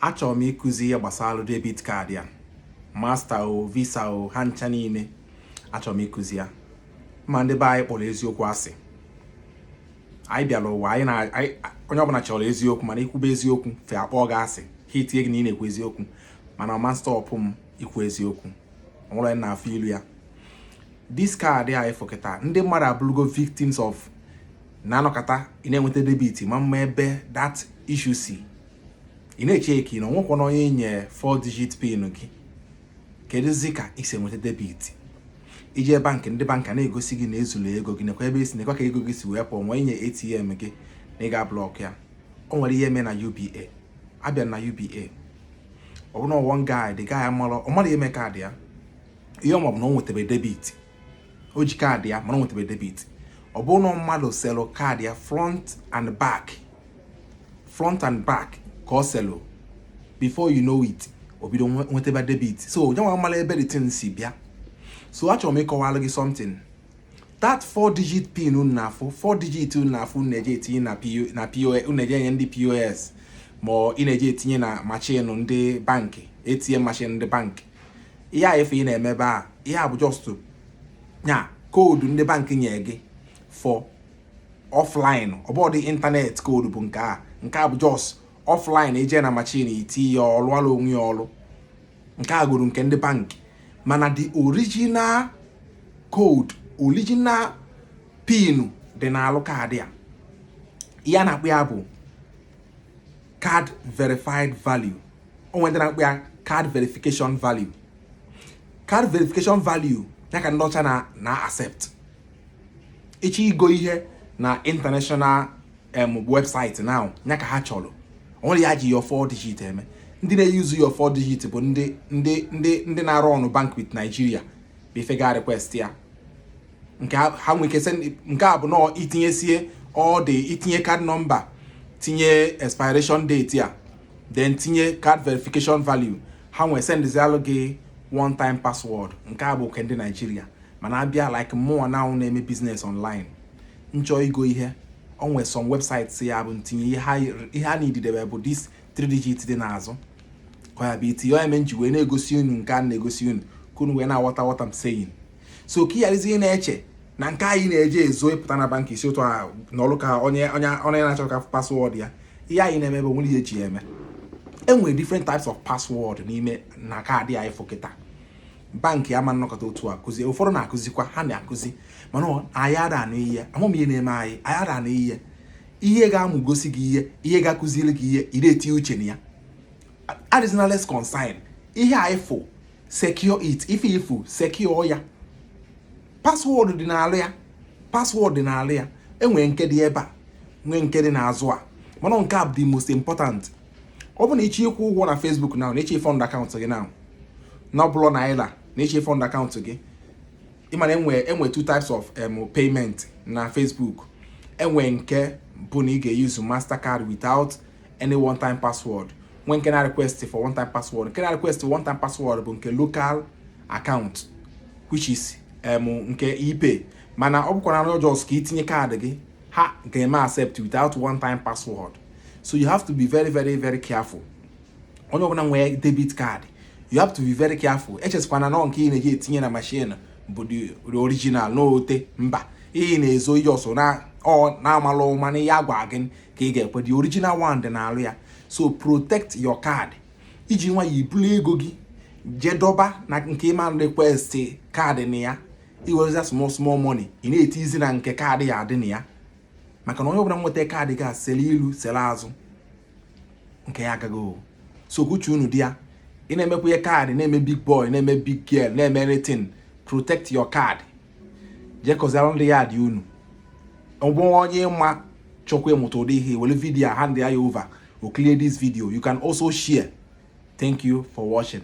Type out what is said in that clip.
achọrọ m ịkụzi ihe gbasara debit card ya master o visa o ha ncha niile achọrọ m ịkụzi ya ma ndị be anyị kpọrọ eziokwu asị anyị bịara ụwa anyị na onye ọbụla chọrọ eziokwu mana ikwube eziokwu fa akpọ gị asị ha etinye gị na ị na-ekwu eziokwu mana ọ ma stọpụ m ikwu eziokwu ọnwụrụ na afọ ilu ya this kaadị anyị fọkịta ndị mmadụ abụrụgo victims of na anọkata ị na-enweta debit ị ma ama ebe that issue si ị na-eche ka ị na o nwekwanụ onye i nye 4 digit pin gị kedụzi ka ị si enweta debit i je bankị ndị bankị na-egosi gị na ezulu ego gị nekwa ebe esi nekwa ka ego gị si wee pụọ nwee nye ATM gị na ị ga-ablọk ya o nwere ihe mee na UBA abịa na UBA ọ bụrụ na one guy the guy amalọ ọ marọ ihe mee kaadị ya ihe ọ ma bụ na o nwetebe debit o ji kaadị ya mana o nwetebe debit ọ bụrụ na mmadụ selụ kaadị ya front and back front and back ka ọ selụ before you know it o bido nwetebe debit so onye nwa amarọ ebe the thing si bịa so achọrọ m ịkọwalụ gị something that four digit pin unu na-afụ four digit unu na-afụ unu na-eje etinye na POS unu na-eje enye ndị POS ma ị na-eje etinye na machine ndị bankị ATM machine ndị bankị ihe a ife ị na-eme ebe a ihe a bụ just a code ndị bankị nye gị for offline ọ bụhọdị internet code bụ nke a nke a bụ just offline i je na machine i ti ya ọ lụalụ onwe ya ọlụ nke a bụrụ nke ndị bankị mana the original code original pin dị n'alụ kaadị a ihe a na-akpọ ya bụ card verified value o nwere ndị na-akpọ ya card verification value card verification value ya ka ndị ọcha na na accept ị chọọ igo ihe na international em website now ya ka ha chọrọ o nwerọ ihe ha ji your four digit eme ndị na-eyuzu your four digit bụ ndị ndị ndị ndị na-arụ ọrụ bank with Nigeria bụ ife ga request ya nke ha nwere ike nke a bụ na i tinyesie all the i tinye card number tinye expiration date ya then tinye card verification value ha wee sendịzialụ gị one time password nke a bụ nke ndị Naijiria mana abịa like mụnwa now na-eme business online m chọọ igo ihe o nwee some websites ya bụ m tinye ihe ha needịrị bụ this 3 digit dị n'azụ ka ya bụ itinye ya eme m ji wee na-egosi unu nke a na-egosi unu ka unu wee na-aghọta what I'm saying so ka ịgharazie na-eche na nke anyị na-eji ezo ịpụta na bank isi ụtọ ahụ na ọrụ ka onye onye onye na-achọ ka password ya ihe anyị na-eme bụ nwere ihe eji ya eme enwere different types of password n'ime na kaadị anyị fokịta bank ama nnọkọta otu a kụzie ụfọdụ na-akụzikwa ha na-akụzi mana anyị ada anụ ihe amụm ihe na-eme anyị anyị ada anụ ihe ihe ga-amụ gosi gị ihe ihe ga-akụziri gị ihe ị na-etinye uche na ya adịzina less concern ihe anyị fụ secure it ife ifu secure ya password dị n'alụ ya password dị n'alụ ya enwere nke dị ebe a nwee nke dị n'azụ a mana nke a bụ the most important ọ bụ na ịchọ ịkwụ ụgwọ na Facebook na ịchọ fund account gị now na ọ bụrụ naira na ịchọ fund account gị ịmana enwe enwe two types of um, payment na Facebook enwe nke bụ na ị ga-use Mastercard without any one time password nwe nke na request for one time password nke na request for one time password bụ nke local account which is um, nke ePay mana ọ bụkwa na just ka itinye kaadị gị ha ga-eme accept without one time password so you have to be very very very careful onye ọbụla nwee debit card you have to be very careful echezikwana na nke ị na-eji etinye na machine bụ the original n'ote mba ị na-ezo i just na ọ na-amalụ mana ihe agwa gị ka ị ga-ekwe the original one dị n'alụ ya so protect your card iji nwayọ ibulu ego gị jee dọba na nke ịma request kaadị na ya iwereza small small money ị na-etizi na nke kaadị ya dị na ya maka na onye ọbụla nweta kaadị gị sele ilu sele azụ nke ya agago so ka uche unu dị ya ị na-emekwa ihe kaadị na-eme big boy na-eme big girl na-eme anything protect your card jee kọsara ndị yard unu ọ bụ onye ịma chọkwa ịmụta ụdị ihe were video a hand ya over o clear this video you can also share thank you for watching